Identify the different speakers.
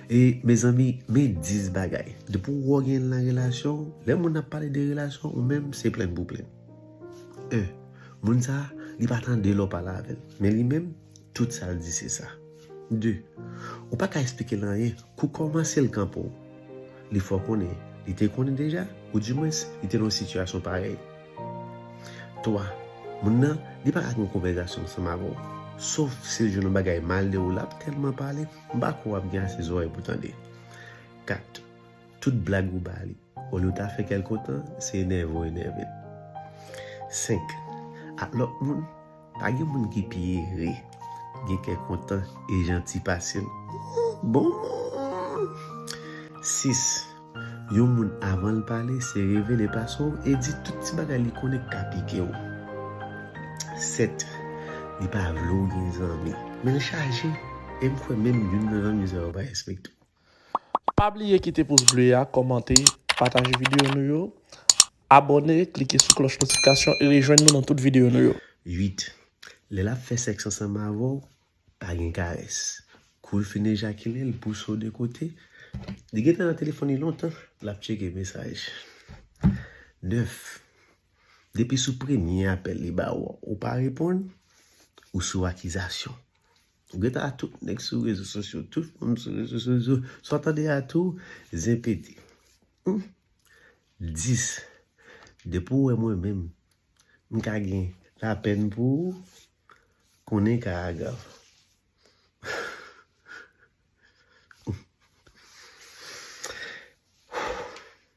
Speaker 1: E mezanmi men 10 bagay depi ou wè w gen l nan relasyon w lè moun ap pale de relasyon ou menm se plenn pou plenn 1 moun sa li pa tande lè w pale avè l men li menm tout sa l di se sa 2 ou pa ka esplike l anyen kou kòman se l k anpè w li fè w konnen li te konnen deja ou di mwens li te nan yon sitiyasyon parèy. 3, Moun nan, li pa ka gen yon konvèzasyon ansanm avè w, sof si l jwenn yon bagay mal de ou, l ap tèlman pale, m pa kwè w ap gen ase zòrèy pou tande. 4, Tout blag ou ba li, olye w ta fè kèlkontan, se enève w enève l. 5, Ak lòt moun. Pa gen moun ki pi ere, gen kè kontan e janti pase l. Bon! 6, Yon moun avan l pale se revele pase w e di tout ti bagay li konnen k ka pike w. 7, Li pa vle w gen zanmi, men l chaje e m kwè menm youn nan zanmi sa yo pa respekte w. Pa
Speaker 2: bliye kite pous ble a, kòmante, pataje videyo nou yo, abòne, klike sou klòch notifikasyon e rejwenn nou nan tout videyo nou yo. 8,
Speaker 1: Lè l ap fè sèks ansanm avè w, pa gen karès. Kou l fin ejakile, l pouse w de kote. Li gen tan nan telefòn li lontan, l ap tcheke mesaj. 9, Depi sou premye apèl li ba w, ou pa reponn, ou sou akizasyon. Ou geta a tout nèg sou rezo sosyo, tout moun sou rezo sosyo, sa w tande a tou, zen pete. Hum! 10. Depi ou wè mwen menm, m ka gen lapèn pou ou, konnen ka a grav.